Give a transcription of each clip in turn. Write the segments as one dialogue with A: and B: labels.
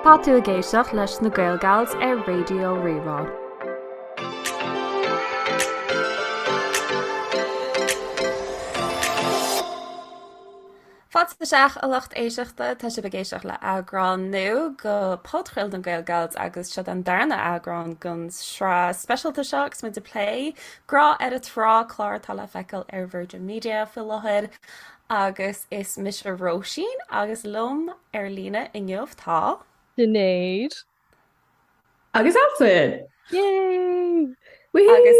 A: Tá tú ag éisteacht leis na GaelGals ar Raidio Rí-Rá. Fáilte isteach a lucht éisteachta, tá sibh ag éisteacht le eagrán nua go phodchraoladh na GaelGals agus seo an darna eagrán gon sraith speisialta seo agus muid ag plé grá ar a trá clár atá le feiceáil ar Virgin Media faoi láthair. Agus is mise Róisín agus liom ar líne inniu tá. Sinéad.
B: Agus Altan! Yay!
C: Woohoo! Agus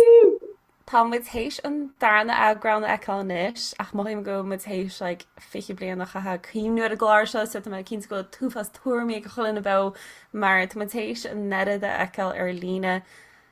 A: tá muid théis an darna eagrán a fheiceáil anois ach mothaím go bhfuil muid théis like, 20 bliain a chaithe ag cuimhniú ar an gclár seo so tá mé cinnte go bhfuil tuilleadh tuairimí ag chuile dhuine beo mar tá muid théis an oiread a fheiceáil ar líne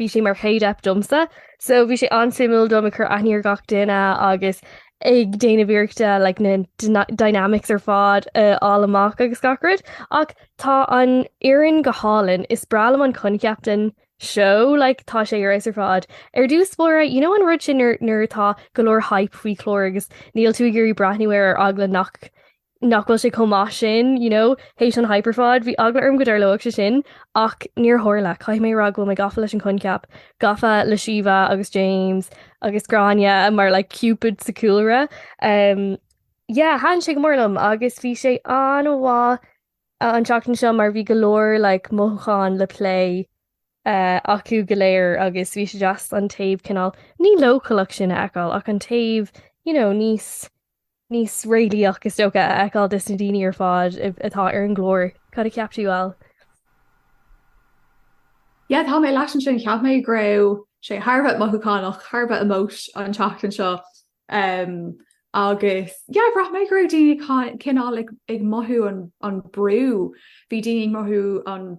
C: bhí sé mar chéad eip domsa so bhí sé an-suimiúil dom ag cur aithne ar gach duine agus ag déanamh iarrachta like na dynamics ar fad a fháil amach agus gach rud ach tá an fhoireann go hálainn, is breá liom an coincheap den seó like tá sé ar fheabhas ar fad. Ar dtús báire you know an rud sin nuair nuair atá go leor hype faoi chlár agus níl tú ag iarraidh breathnú air ar eagla nach nach bhfuil sé chomh maith sin, you know, théis an hype ar fad, bhí eagla orm go dtarlódh sé sin, ach níor tharla, caithfidh mé a rá go bhfuil mé gafa leis an choincheap, gafa le Síomha agus James agus Gráinne mar like Cupid sa chúlra, um, yeah, thaitin sé go mór liom agus bhí sé an-mhaith an tseachtain seo mar bhí go leor like mothúchán le plé uh, acu go léir agus bhí sé deas an taobh cineál ní leochaileach sin a fheiceáil ach an taobh, you know, níos. níos réalaíche is dócha a fheiceáil de sna daoine ar fad atá ar an gclár. Cad a cheap tú,
B: Al? Yeah, tá mé leat ansin. Cheap mé go raibh sé thar a bheith mothúchánach, thar a bheith emosh an tseachtain seo um agus yeah, bhraith mé go raibh daoine cineál ag mothú an bhrú. Bhí daoine ag mothú an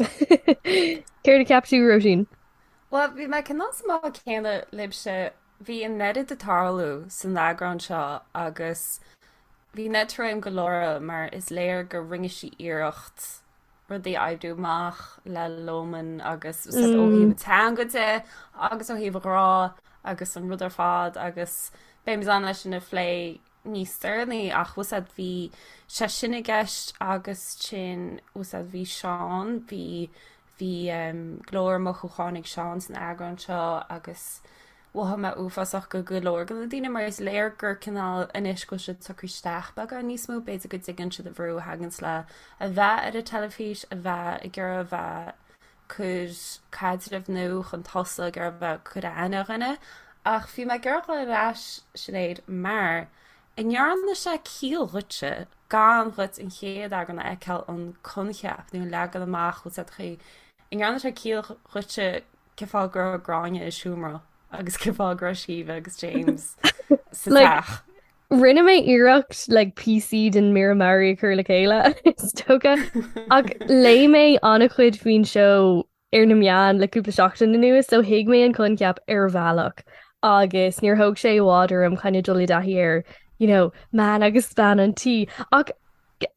C: Céard a cheap tú, Róisín? Bhuel, bhí
A: mé cineál sa mbád céanna libhse. Bhí an oiread ag tarlú san eagrán seo agus bhí Ned ar aon go leor mar is léir gur rinne sí iarracht rudaí a oibriú amach le Lomán agus ó thaobh na teanga de agus ó thaobh an ghrá agus an rud ar fad agus beidh muid in ann é sin a phlé níos deireanaí ach you know is é bhí sé sin i gceist agus ansin you know is é bhí Seán bhí bhí go leor mothúcháin ag Seán san eagrán seo agus mhothaigh mé uafásach go go leor de na daoine mar is léir gur cineál anois go bhfuil siad socraithe isteach beagán níos mó b'fhéidir go dtuigeann siad an brú a thaganns le a bheith ar an teilifís a bheith ag iarraidh a bheith cuir caidreamh nua chun tosaigh ar bheag cuid a aithne a dhuine, ach bhí mé ag iarraidh dul ar ais, Sinéad, mar an ndearna sé ciall dhuitse gan dhuit an chéad eagran a fheiceáil an coincheap nó an leagan amach úd sa chaoi an ndearna sé ciall dhuitse cén fáth go raibh Gráinne i seomra agus cén fáth go raibh Síomha agus James sa teach. Rinne
C: mé iarracht le píosaí den mír mearaí a chur le chéile is dócha ach léigh mé an-chuid faoin seó ar na meáin le cúpla seachtain anuas so thuig mé an coincheap ar bhealach agus níor thóg sé i bhfad orm cineál dul i dtaithí ar, you know, man agus bean an tí ach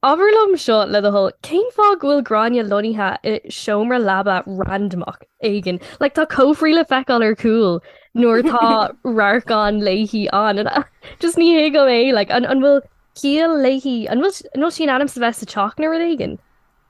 C: Abair liom seo le do thoil, cén fáth go bhfuil Gráinne lonnaithe i seomra leaba randamach éigin? Like, tá cófraí le feiceáil ar cúl nuair atá radharcanna léi ann and I just ní thuigim é, like, an bhfuil ciall léi, an bhfuil sí in ainm is a bheith sa teach nó rud éigin?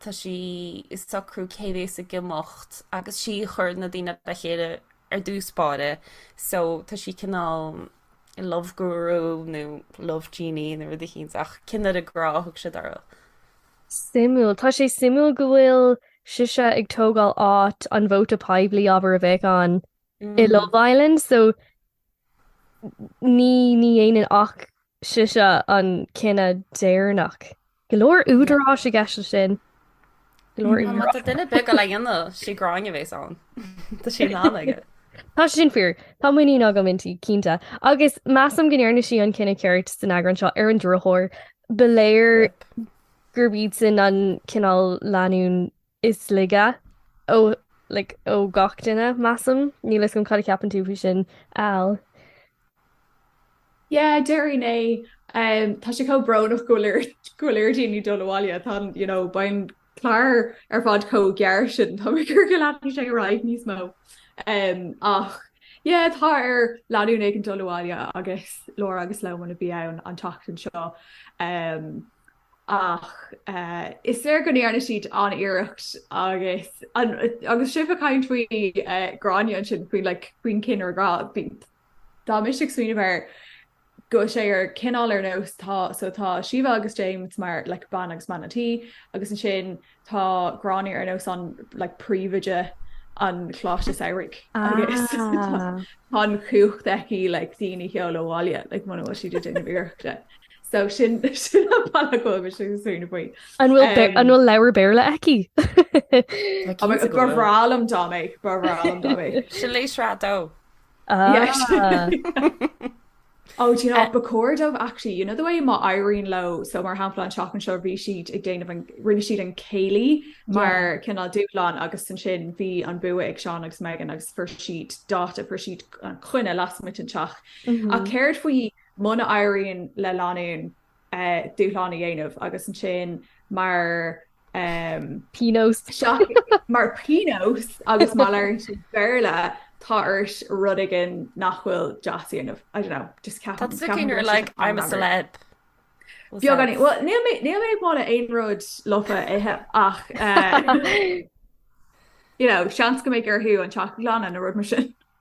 A: tá sí ag socrú cé bhéas ag imeacht agus sí a chuir na daoine le chéile ar dtús báire so tá sí cineál love guru nó love genie nó rud éicínt ach cinnire grá a thug siad uirthi.
C: Suimiúil. Tá sé suimiúil go bhfuil sise ag tógáil áit an vóta poiblí abair a bheadh ann i mm. Love Island so Ní ní dhéanann ach sise an cinneadh deireanach. Go leor údaráis i gceist leis sin. Go leor
A: Má tá duine ar bith ag goil á dhéanamh sí Gráinne a bhéas ann. Tá sí in ann aige. Tá sé sin
C: fíor. Tá muinín agam inti, cinnte. Agus measaim go ndearna sí an cinneadh ceart san eagrán seo ar an drochuair. Ba léir gurb iad sin an cineál leanúin is laige ó like ó gach duine, measaim. Níl 'fhios agam cad a cheapann tú faoi sin,
B: Al. Yeah, déarfainn é. Umm, tá sé chomh brónach go bhfuil ar go bhfuil ar dhaoine dul abhaile. Tá an, you know, beidh an clár ar fad chomh gearr sin. Tá mé ag iarraidh go leanfadh sé ar aghaidh níos mó. Umm, ach yeah, tá ar leanúin éigin dul abhaile agus Laura agus Loman a bhí ann an tseachtain seo. Umm, ach is léir go ndearna siad an-iarracht agus agus sibh ag caint faoi Gráinne ansin faoi like faoin cinnire grá bhí tá mise ag smaoineamh air go bhfuil sé ar cineál ar nós tá so tá Síomha agus James mar like bean agus man an tí agus ansin Tá Gráinne ar nós an like príomhoide an Choláiste Samhraidh agus tá tá an chumhacht aici le daoine a sheoladh abhaile like muna bhfuil siad ag déanamh iarrachta. So sin sin an bealach a bhfuil mise ag smaoineamh faoi. An bhfuil be- an Um,
C: bhfuil leabhar Béarla aici? Tá Tá mé- cinnte go ba bhfuil. bhreá
B: liom dá mbeadh, ba bhreá liom dá mbeadh. Sin léasrá dó. Yes. Oh, do you know, ba chóir dóibh actually, you know the way má éiríonn leo, so mar shampla an tseachtain seo bhí siad ag déanamh an rinne siad an céilí mar chineál dúshlán agus ansin bhí an bua ag Seán agus Megan agus fuair siad dáta fuair siad an choinne lasmuigh den teach. Ach céard faoi muna éiríonn le lánún dúshlán a dhéanamh agus ansin
C: mar. pionós. Sea,
B: mar pionós agus má labhraíonn siad Béarla tá orthu rud éigin nach bhfuil deas a dhéanamh, I don't know, just ceapaim. Tá tú cineál like
A: I'm a celeb.
B: Beagán bhuel níl mé níl mé ag moladh aon rud lofa a ithe ach eh, you know, seans go mbeidh orthu an teach a ghlanadh nó rud mar sin.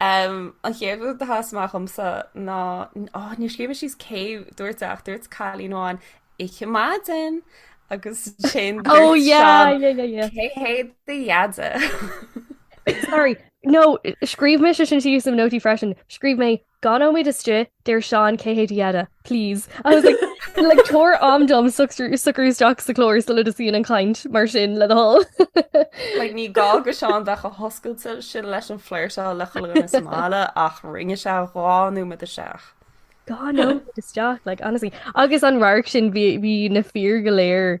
A: Um, an chéad rud a sheas amach domsa ná, ó, níor scríobh mé síos cé dúirt ach dúirt cailín amháin, Oíche mhaith, den! agus ansin dúirt oh, yeah, Seán, yeah, yeah, yeah. cé hé do
C: dheaide. Sorry, no, scríobh mé sin síos i mo nótaí freisin, scríobh mé Dhá nóiméad istigh, deir Seán Cé hé do dheaide? Please. I was like like tabhair am dom socrú isteach sa chlár sula dtosaíonn an chaint mar sin le do thoil. Like ní
A: gá do Sheán bheith chomh hoscailte sin leis an phlé seo le chuile dhuine sa mbaile ach rinne sé dhá nóiméad isteach. Dhá nóiméad
C: isteach like honestly. Agus an radharc sin bhí na fir go léir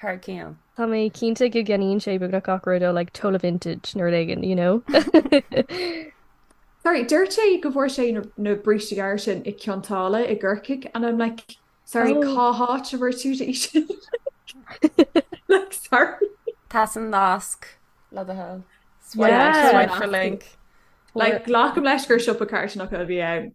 B: thar
A: cionn. Tá mé cinnte
C: go gceannaíonn sé beagnach gach rud ó like tola vintage nó rud éigin, you
B: know. Sorry, dúirt sé go bhfuair sé na- na bríste gearra sin i gCionn tSáile i gCorcaigh and I'm like sorry Oh. cá háit a bhfuair tú é sin? Like, sorry. Tabhair an
A: nasc le do thoil. Yeah. Swipe the link. Like, glacaim
B: leis gur siopa carthanachta a bhí ann.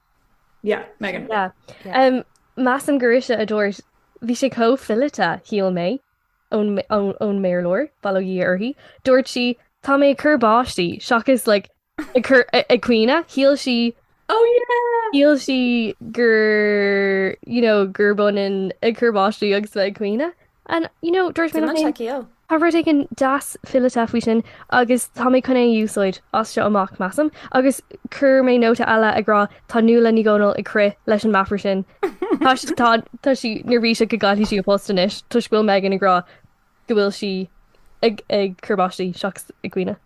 B: Yeah, Megan. Yeah. Yeah.
C: Um, Measaim gurb ise a dúirt bhí sé chomh fileata, shíl mé, ón, ón, ón bhfoghlaimeoir, bail ó Dhia uirthi, dúirt sí, tá mé ag cur báistí, seachas, like, ag cur, ag caoineadh, shíl sí, Oh yeah! shíl sí gur, you know, gurb ionann ag cur báistí agus bheith ag caoineadh. And, you know, dúirt mé liom féin, tá rud éigin deas fileata faoi sin agus tá mé chun é a úsáid as seo amach, measaim. Agus chuir mé nóta eile ag rá, tá Nuala Ní Dhomhnaill ag crith leis an meafar sin. Tá sí, tá, tá sí, neirbhíseach go gcaillfidh sí a phost anois toisc go bhfuil Meghan ag rá go bhfuil sí ag, ag cur báistí seachas ag caoineadh.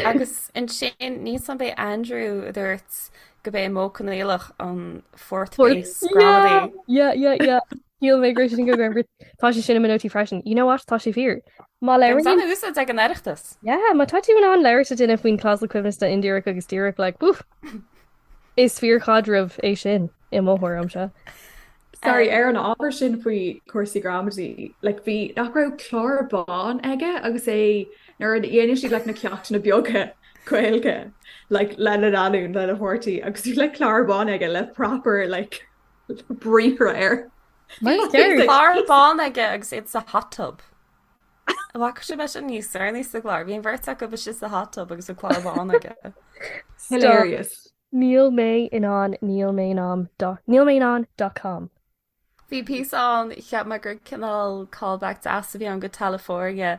A: Agus ansin, níos déanaí b'é Andrew a dúirt gurb é an modh coinníollach an Fourth Fourth- Base Yeah, Gramadaí. yeah, yeah, yeah.
C: Níl mé gréis sin go go gur tá sé sin i mo nótaí freisin. You know what? Tá sé fíor. Má Bhí an leirigh. úsáid ag an
A: Oireachtas. Yeah, má tá tú in
C: ann labhairt le duine faoin clásal coibhneasta indíreach agus díreach, like, boof! Is fíorchaidreamh é sin, i mo thuairimse. Sorry,
B: ar an ábhar sin faoi chúrsaí gramadaí, like, bhí, nach raibh clár bán aige agus é, nuair a dhéanadh siad, like, na ceachtanna beaga Gaeilge, like, lena leanúin, lena pháirtí, agus bhí, like, clár bán aige le proper, like, briathra air.
A: Clár bán aige agus iad sa hot tub. Bhac sé bheith an níos ar níos sa gláir, bhí an bheirt acu bheith sa hot tub agus an clár bán aige.
B: Hilarious. Níl
C: mé in ann Níl mé in ann Níl mé in ann dot com. Bhí
A: píosa ann cheap mé gur cineál callback deas a bhí ann go Teilifóirne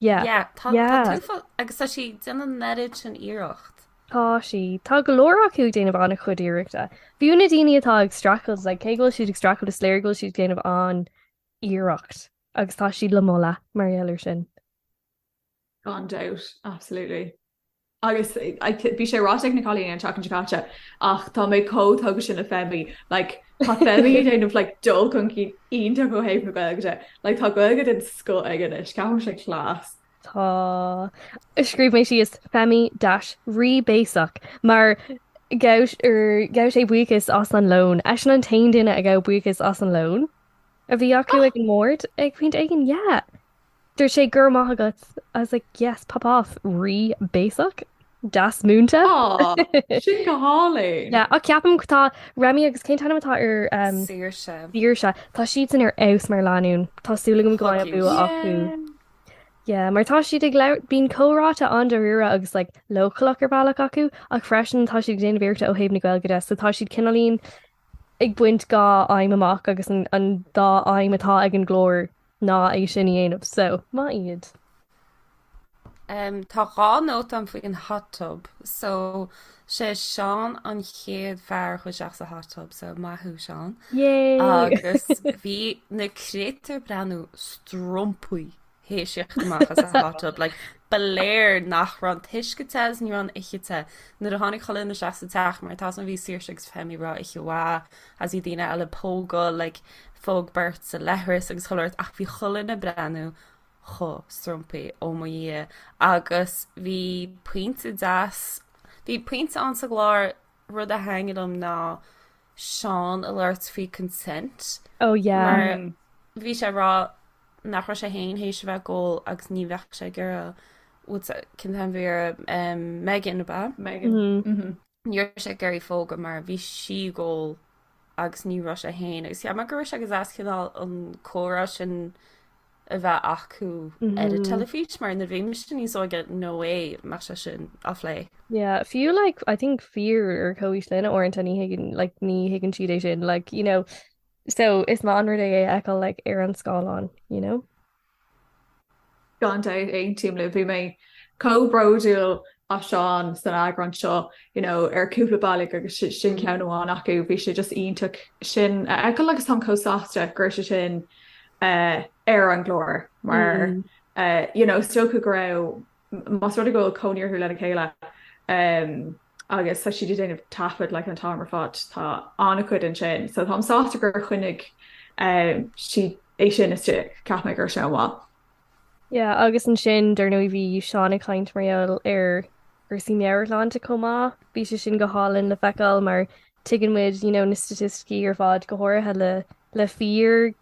C: Yeah. Yeah, tá tá Yeah. tú
A: fo- agus tá sí ag déanamh an oiread sin iarracht. Tá sí.
C: Tá go leor acu ag déanamh an-chuid iarrachta. Fiú na daoine atá ag streachailt, like, cé go bhfuil siad ag streachailt is léir go bhfuil siad ag déanamh an-iarracht agus tá siad le moladh mar gheall ar sin.
B: Gan dabht, absolutely. agus bhí sé ráite ag na cailíní an tseachtain seo caite ach tá mé chomh tógtha sin le Femi like tá Femi ag déanamh like dul chun cinn iontach ó thaobh na Gaeilge de like tá Gaeilge den scoth aige anois ceapaim sé class. Tá.
C: Scríobh mé síos Femi dash rí béasach mar gabh er gabh sé buíochas as an lón eisean an t-aon duine a gabh buíochas as an lón a bhí acu ag an mbord ag pointe éigin yeah Dúirt sé Go raibh maith agat. I was like yes pop off rí béasach. Deas múinte. Aww
B: sin go hálainn. Yeah ach ceapaim go tá
C: Remi agus cén t-ainm atá ar um Saoirse. Saoirse tá siadsan ar fheabhas mar leanúin. Tá súil agam go mbeidh bua acu. Yeah mar tá siad ag labhairt bíonn comhráite an-dáiríre agus like leochaileach ar bhealach acu ach freisin tá siad ag déanamh iarrachta ó thaobh na Gaeilge de so tá siad cineáilín ag baint dhá aidhm amach agus an dá aidhm atá ag an gclár ná é sin a dhéanamh so maith
A: iad. Tá dhá nóta ann faoin hot tub so sé Seán an chéad fear a chuaigh isteach sa hot tub so maith thú Seán. Yay! Agus bhí na créatúir ag breathnú strompaithe tar éis teacht amach as an hot tub like ba léir nach raibh an t-uisce te is ní raibh an oíche te. Nuair a tháinig chuile dhuine isteach sa teach mar tá's agam bhí Saoirse agus Femi ag rá oíche mhaith is bhí daoine eile ag pógáil like phóg beirt sa leithreas agus chuile shórt ach bhí chuile dhuine ag breathnú chomh strompaithe ó mo dhia agus bhí pointe deas bhí pointe ann sa gclár rud a thaitnigh liom ná Seán ag labhairt faoi consent ó oh, yeah.
C: mar mm. bhí sé ag
A: rá nach raibh sé féin tar éis a bheith ag ól agus ní bheadh sé gur cinnte an bhíar Megan ba Megan mm-hmm. mm-hmm. Ní raibh sé ag iarraidh í a phógadh mar bhí sí ag ól agus ní raibh sé féin agus cheap mé go raibh sé go deas cineál an comhrá sin a bheith acu ar an teilifís mar nuair a bhí mise níos óige nó é mar sé sin á phlé. Yeah,
C: fiú like I think fir ar comhaois linn uaireanta ní thuigeann like ní thuigeann siad é sin like you know so is maith an rud é é a fheiceáil like ar an scáileán you know.
B: Gan dabht, aontaím libh. Bhí mé chomh bródúil as Seán san eagrán seo, you know, ar cúpla bealaigh agus sin ceann amháin acu. Bhí sé just iontach sin a fheiceáil agus táim chomh sásta go raibh sé sin ar an gclár mar, you know, is dócha go raibh Más rud é go bhfuil cónaí orthu lena chéile agus tá siad ag déanamh taifead like an t-am ar fad, tá an-chuid ansin. So táim sásta gur choinnigh siad é sin istigh, cheap mé go raibh sé an-mhaith.
C: Yeah, agus ansin, dar ndóigh, bhí Seán ag caint mar gheall ar chúrsaí meabhairshláinte chomh maith. Bhí sé sin go hálainn le feiceáil mar tuigeann muid, you know, na staitisticí ar fad, go háirithe le fir,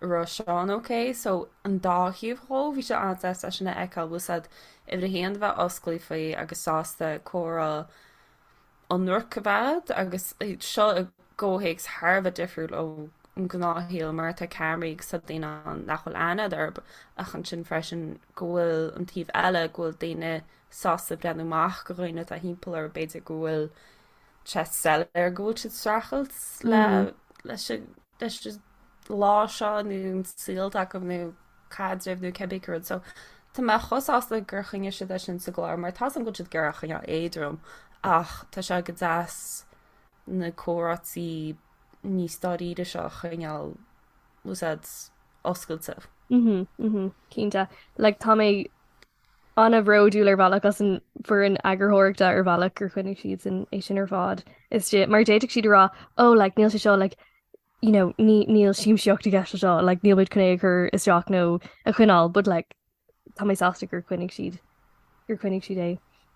A: raibh Seán ok so an dá thaobh dhó bhí sé an-deas eisean a fheiceáil bhfuil a fhios agat uimhir a haon a bheith osclaí faoi agus sásta comhrá ionraic a bheith agus seo i gcomhthéacs thar a bheith difriúil ón ngnáthshaol mar atá ceamaraí agus tá daoine ann nach bhfuil aithne agat orthu ach ansin freisin go bhfuil an taobh eile go bhfuil daoine sásta breathnú amach do dhaoine atá timpeall orthu b'fhéidir go bhfuil sé soiléir go bhfuil siad ag streachailt le mm. leis leis an lá seo nó an saol atá acu nó caidreamh nó cibé rud so Tá mé chomh sásta gur choinnigh siad é sin sa gclár mar tá's agam go bhfuil siad ag iarraidh é a choinneáil éadrom ach tá sé go deas na comhráití níos dáiríre seo a choinneáil bhfuil a fhios agat oscailte. Mhm, mhm,
C: cinnte. Like tá mé. An-bhródúil ar bhealach as an bhfoireann eagarthóireachta ar bhealach gur choinnigh siadsan é sin ar fad istigh mar d'fhéadfadh siad a rá oh like níl sé seo like you know ní níl siamsaíocht i gceist anseo like níl muid chun é a chur isteach nó a choinneáil but like tá mé sásta gur choinnigh siad gur choinnigh siad é.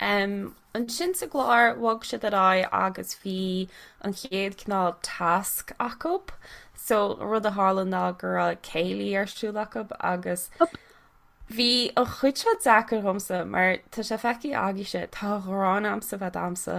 A: Um, ansin sa gclár bhog siad ar aghaidh agus bhí an chéad cineál tasc acu. So rud a tharla ná go raibh céilí ar siúl acu agus bhí an chuid seo deacair dhomsa mar tá sé feicthe agaibhse tá an ghráin agamsa a bheith ag damhsa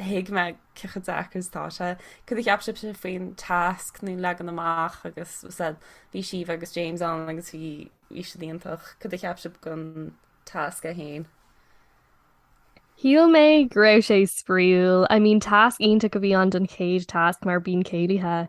A: thuig mé cé chomh deacair is atá sé. Cad a cheap sibhse faoin tasc nó leagan amach agus bhfuil a fhios agat bhí Síomha agus James ann agus bhí bhí siad iontach. Cad a cheap sibh den tasc é
C: féin? Shíl mé go raibh sé spraíúil. I mean tasc iontach a bhí ann don chéad tasc mar bíonn céilithe.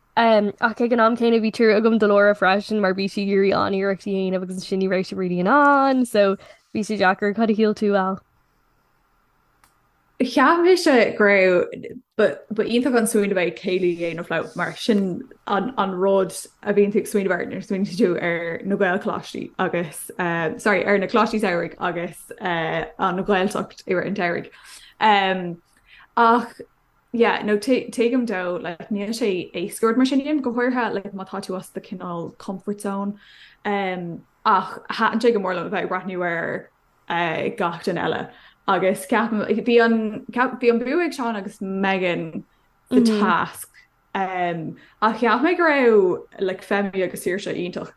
C: Ach ag an am céanna bhí trua agam do Laura freisin mar bhí siad ag iarraidh an-iarracht a dhéanamh agus ansin ní raibh siad really in ann so bhí sé deacair. Cad a shíl tú, Al?
B: Cheap mise go raibh ba iontach an smaoineamh é céilí a dhéanamh leo mar sin an rud a bhíonn tú ag smaoineamh air nuair a smaoiníonn tú ar na Gaelcholáistí agus sorry ar na Coláistí Samhraidh agus an Ghaeltacht i rith an tsamhraidh. Ach Yeah, no, tuigim dó, like, níl sé éasca rud mar sin a dhéanamh, go háirithe, like, má tá tú as do cineál comfort zone, um, ach thaitin sé go mór liom a bheith ag breathnú ar uh, gach duine eile. Agus ceapaim, bhí an, ceap, bhí an bua ag Seán agus Megan the mm -hmm. task Ach cheap mé go raibh like Femi agus Saoirse iontach.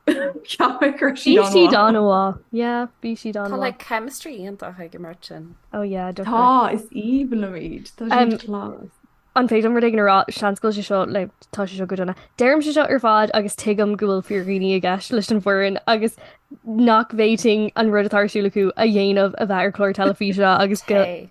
B: Cheap mé go raibh siad Bhí siad an-mhaith.
C: an-mhaith. Yeah, bhí siad Tá an-mhaith. like chemistry
A: iontach ag an mbeirt sin. Ó yeah, Tá, definitely.
C: is aoibhinn
B: liom iad. Tá Um, siad class. An féidir rud
C: éigin a rá, seans go bhfuil sé seo like tá sé seo go dona. Deirimse seo ar fad agus tuigim go bhfuil fíordhaoine i gceist leis an bhfoireann agus nach bhféadfainn an rud atá ar siúl acu a dhéanamh a bheith ar chlár teilifíse agus go Hey.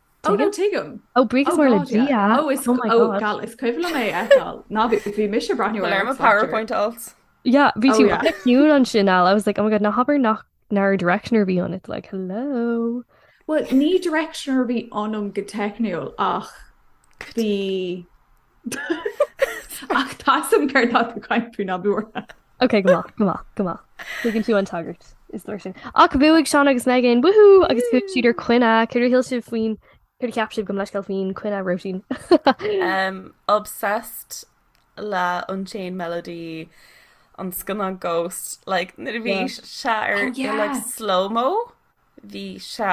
C: Oh no,
B: tuigim. Oh buíochas mór le
C: Dia. Oh is
B: gal is cuimhin liom é a fheiceáil. Nuair a bhí mise ag breathnú ar an PowerPoint
A: alt. Yeah, bhí tú
C: like ciúin ansin Al, I was like, oh my god, ná habair nach nár directioner a bhí ionat like, hello. Well, ní
B: directioner a bhí ionam go techniúil ach bhí Ach tá a fhios agam céard atá tú ag caint faoi ná bí buartha. Ok go maith, go
C: maith, go maith. Tuigeann tú an tagairt. Is leor sin. Ach bhuaigh Seán agus Megan, woohoo, agus chuaigh siad ar coinne, cad é a shíl sibh faoin cad é a cheap sibh gabh mo leithscéal faoin coinne Róisín? um,
A: obsessed le Unchained Melody an scannán Ghost, like, nuair a bhí Yeah. sé ar Oh, yeah. like, slow-mo bhí sé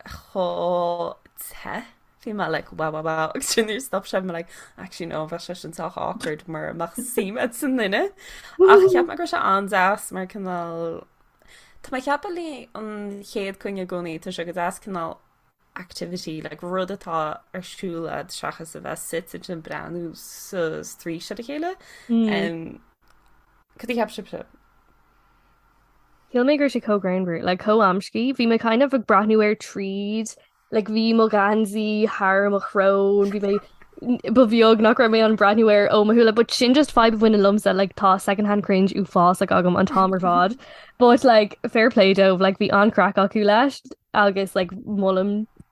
A: chomh te bhí mé like wow wow wow agus ansin nuair a stop sé bhí mé like actually no bheadh sé sin sách awkward mura mbeadh suim agat sa duine ach cheap mé go raibh sé an-deas mar cineál Tá mé ag ceapadh leis an chéad choinne i gcónaí tá sé go deas cineál activity like, rud atá ar siúl agat seachas a bheith suite ag breathnú sa strí se a chéile mm. um, Cad é a cheap sibhse
C: Shíl mé go raibh sé chomh greannmhar, like chomh amscaí. Bhí mé kind of ag breathnú air tríd, like bhí mo gheansaí thar mo shrón, bhí mé ba bheag nach raibh mé in ann breathnú air ó mo shúile, but sin just fadhb a bhaineann liomsa, like tá second hand cringe uafásach agam an t-am ar fad, but like fair play dóibh, like bhí an-chraic acu leis agus like molaim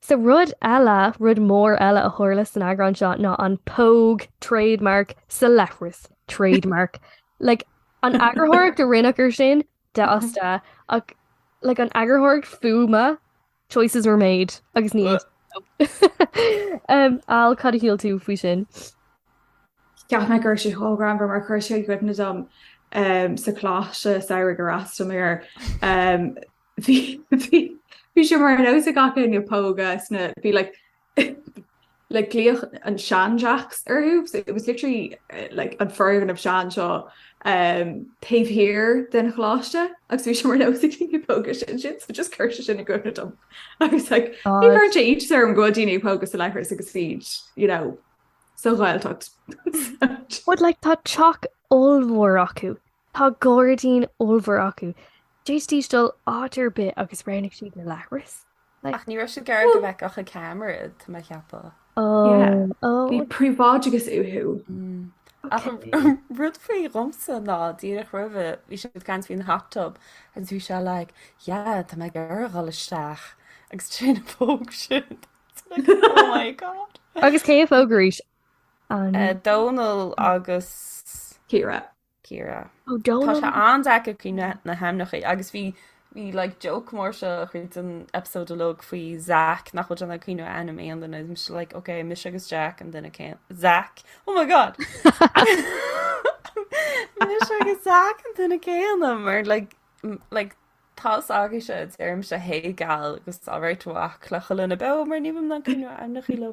C: Sea, rud eile, rud mór eile a tharla san eagrán seo ná an póg, trade mark, sa leithreas, trade mark. Like, an eagarthóireacht a rinneadh air sin, d'fhásta, ach, like, an eagarthóireacht fuaime, choices were made, agus ní fhéadfainn dul. Al, cad a shíl tú faoi
B: sin? Cheap mé go raibh sé chomh greannmhar mar chuir sé i gcuimhne dom sa choláiste samhraidh ar fhreastail mé air. Bhí sé mar nós ag gach éinne pógadh sna bhí like like glaodh an sean-Jacks orthu so it was literally eh, like an foirgneamh sean seo um, taobh thiar den choláiste agus bhí sé mar nós ag daoine pógadh ansin so just chuir sé sin i gcuimhne dom I was like ní mar sé ait orm go bhfuil daoine ag pógadh sa leithreas agus iad you know sa Ghaeltacht. But
C: like tá teach ollmhór acu Tá gairdín ollmhór acu. D'fhéadfaidís dul áit ar bith agus roghnaigh siad na leithris. Ach ní raibh
A: siad ag iarraidh go bhfeicfeadh an ceamara iad, tá mé a cheapadh.
B: Bhí príobháideachas uathu. Ach
A: rud faoi dhomsa ná díreach roimhe bhí siad ag caint faoin hot tub agus bhí sé like, yeah, tá mé ag iarraidh a dhul isteach agus tuige nár phóg siad. Oh my god. Agus cé a phóg
C: arís?
A: Dónall agus Ciara.
B: Ciara. Ó
A: Tá Dónall. sé an-deacair cuimhniú na hainmneacha agus bhí bhí like joke mór seo chuid den episode uilig faoi Zach nach bhfuil in ann cuimhniú ainm aon duine is mise like ok mise agus Jack an duine céanna Zach oh my god mise agus Zach an duine céanna mar like m- like tá a fhios agaibhse deirimse hey gal agus alright a mhac le chuile dhuine beo mar níl mé in ann cuimhniú ainmneachaí le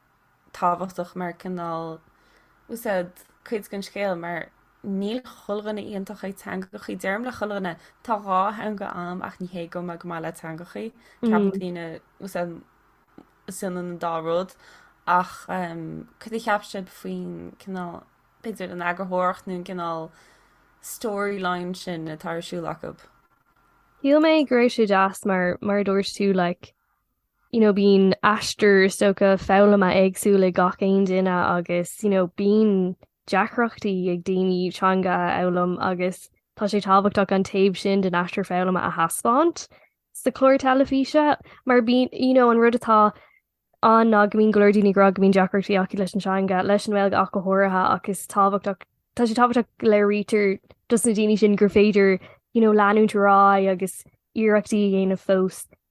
A: tábhachtach mar cineál úsáid cuid den scéal mar níl chuile dhuine iontach ag teangachaí. Deirim le chuile dhuine, tá dhá theanga agam ach ní hé go bhfuil mé go maith le teangachaí. Ceapann mm. daoine úsáid is ionann an dá rud ach um, cad a cheap sibhse faoin cineál b'fhéidir an eagarthóireacht nó an cineál storyline sin atá ar siúl acu. Shíl
C: mé go raibh sé deas mar mar dúirt tú like, you know, bíonn aistear is dócha foghlama éagsúil ag gach aon duine agus you know, bíonn deacrachtaí ag daoine teanga a fhoghlaim agus tá sé tábhachtach an taobh sin den aistear foghlama a thaispeáint sa chlár teilifíse mar bíonn you know, an rud atá ann ná go mbíonn go leor daoine ag rá go mbíonn deacrachtaí acu leis an teanga, leis an Ghaeilge ach go háirithe ach is tábhachtach tá sé tábhachtach go léirítear dos na daoine sin gur féidir you know, leanúint ar aghaidh agus iarrachtaí a dhéanamh fós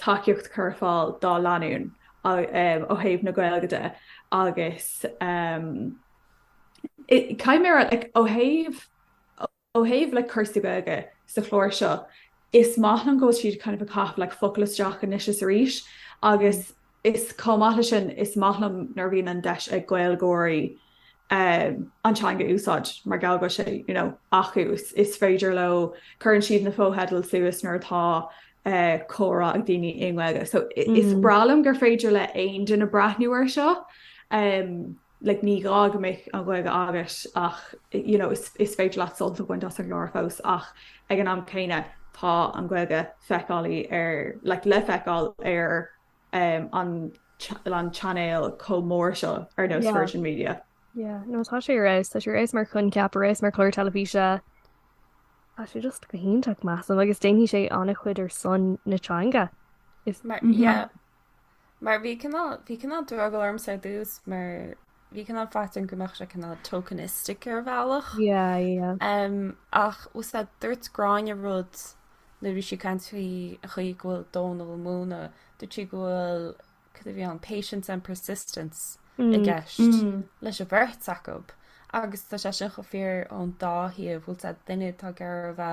B: tacaíocht a chur ar fáil dá lánúin ó thaobh na Gaeilge de agus caithfidh mé a rá ó thaobh le cúrsaí Gaeilge sa chlár seo. Is maith liom go bhfuil siad kind of ag caitheamh cúpla focal isteach anois is arís agus is chomh maith le sin is maith liom nuair bhíonn an deis ag Gaeilgeoirí, an teanga a úsáid mar gheall go bhfuil sé, you know, acu. Is féidir leo, cuireann siad na fotheidil suas nuair atá comhrá ag daoine i nGaeilge. So is breá liom gur féidir le aon duine breathnú air seo. Like ní gá go mbeadh an Ghaeilge agat ach, you know, is féidir leat sult a bhaint as an gclár fós ach ag an am céanna tá an Ghaeilge feiceálaí ar, like le feiceáil ar an chainéal chomh mór seo ar nós Virgin Media. Yeah, no tá sé
C: ar fheabhas, tá sé ar fheabhas mar choincheap, ar fheabhas mar chlár teilifíse. Tá sé just go hiontach measaim agus déanfaidh sé an-chuid ar son na teanga.
A: Is mar bhí cineál drogall ormsa ar dtús mar Bhí cineál faitíos orm go mbeadh sé cineál tokenistic ar bhealach. Yeah, yeah. Um, ach bhfuil a fhios agat, dúirt Gráinne rud nuair a bhí sí ag caint faoin chaoi go bhfuil Dónal ag múineadh, dúirt sí go bhfuil cad a bhí ann, patience and persistence i mm, gceist mm. leis a bheirt acu. Agus tá sé sin chomh fíor ón dá thaobh bhfuil a fhios agat, duine atá garbh a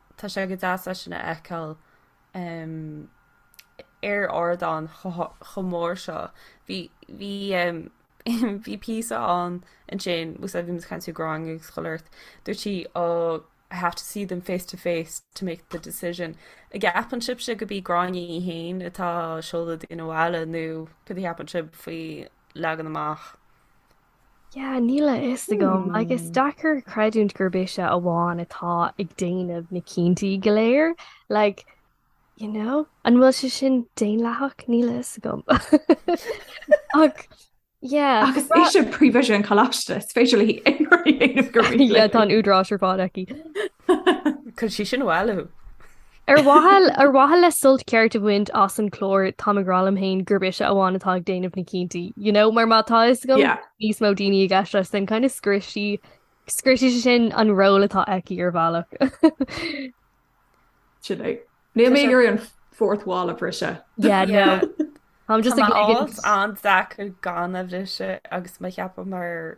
A: tá sé go deas é sin a fheiceáil ar ardán chomh mór seo. Bhí píosa ann ansin agus bhí muid caint Gráinne ag scoláirt. Dúirt sí ó I have to see them face to face to make the decision. An gceapann sibhse gurb í Gráinne í féin atá ag seoladh daoine abhaile nó cad é a cheapann sibh faoin leagan amach
C: Yeah, níl a fhios agam agus is deacair creidiúint gurb ise amháin atá ag déanamh na cinntí go léir like, you know, an bhfuil sé sin daonlathach níl a fhios agam. Ach Yeah, agus é sin prevision
B: choiste speisialta, tá an t-údarás ar fad
C: aici.
A: Cuireann sí sin
C: abhaile thú? Ar mhaithe le sult ceart a bhaint as an chlár tá mé ag rá liom féin gurb ise amháin atá ag déanamh na cinntí. You know, mar má tá a fhios go bhfuil níos mó daoine i gceist leis, then kind of scriosfaidh, scriosfaidh sé sin an ról atá aici ar
B: bhealach. Sin é. Níl mé ag iarraidh an fourth wall a
C: bhriseadh. Tá mé just ag an dá
A: chu gan é a bhriseadh agus mé ag ceapadh mar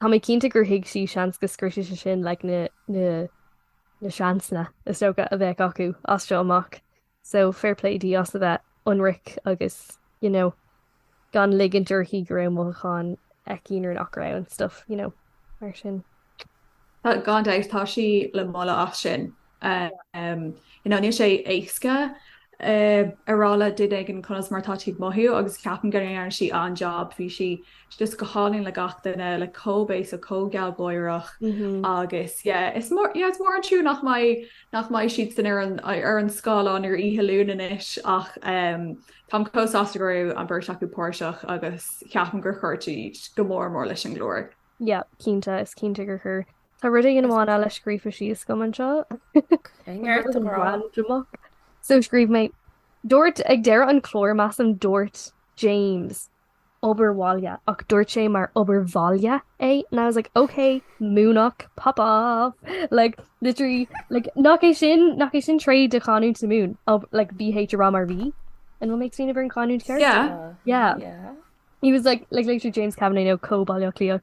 C: Tá mé cinnte gur thuig sí seans go scriosfadh sé sin like na na seansna is dócha a bheadh acu as seo amach so fair play di as a bheith ionraic agus you know gan ligint uirthi go raibh mothúcháin aici nuair nach raibh and stuff you know mar sin. Tá
B: gan dabht tá sí le moladh as sin. Níl sé éasca a rá le duine éigin conas mar atá tú ag mothú agus ceapaim go ndearna sí an-jab, bhí sí just go hálainn le gach duine, like chomh béasach, chomh gealgháireach agus yeah. Is mór an trua nach mbeidh siadsan ar an scáileán ar oíche Luain anois ach táim chomh sásta go raibh an bheirt acu páirteach agus ceapaim gur chuir siad go mór mór leis an gclár. Yeah, cinnte,
C: is cinnte gur chuir. Tá rud éigin amháin eile scríofa síos agam anseo. So scríobh mé dúirt ag deireadh an chláir measaim dúirt James obair bhaile ach dúirt sé mar obair vaile and I was like ok Muimhneach pop off like literally like nach é sin nach é sin tréith de chanúint na Mumhan like BH a rá mar V and what makes me never an canúint ceart yeah yeah he was like like later James Kavanagh no cóbáiliocht líoch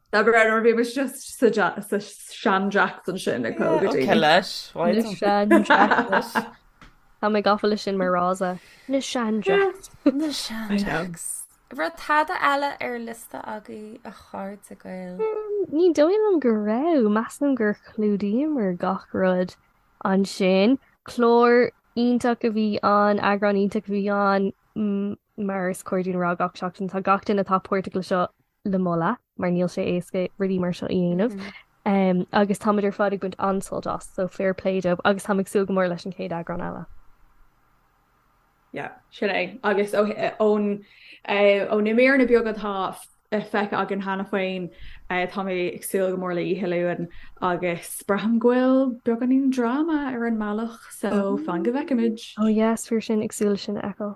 B: Dá bhrí sin, bhímis sa seandreachtain sin ag cónaí go dtí seo. Cé
A: leis?
C: Na seandreachtais. Tá mé gafa leis sin mar fhrása. Na seandreachtais. Na
A: seandreachtais. An raibh tada eile ar an liosta agaibh, a chairde Gael? Ní dóigh
C: liom go raibh. Measaim gur chlúdaíomar gach rud ansin. Clár iontach a bhí ann, eagrán iontach a bhí ann, mar is cóir dúinn a rá gach seachtain. Tá gach duine atá páirteach leis seo le moladh, mar níl sé éasca rudaí mar seo a dhéanamh agus táimid ar fad ag baint an-sult as, so fair play dóibh agus táim ag súil go mór leis an chéad eagrán eile. Yeah,
B: sin é. Agus ó na míreanna beaga atá feicthe againn cheana féin, tá mé ag súil go mór le Oíche Luain agus braithim go bhfuil beagáinín dráma ar an mbealach, so fan go bhfeicfimid. Oh yes, thar cinn,
C: ag súil leis sin a fheiceáil.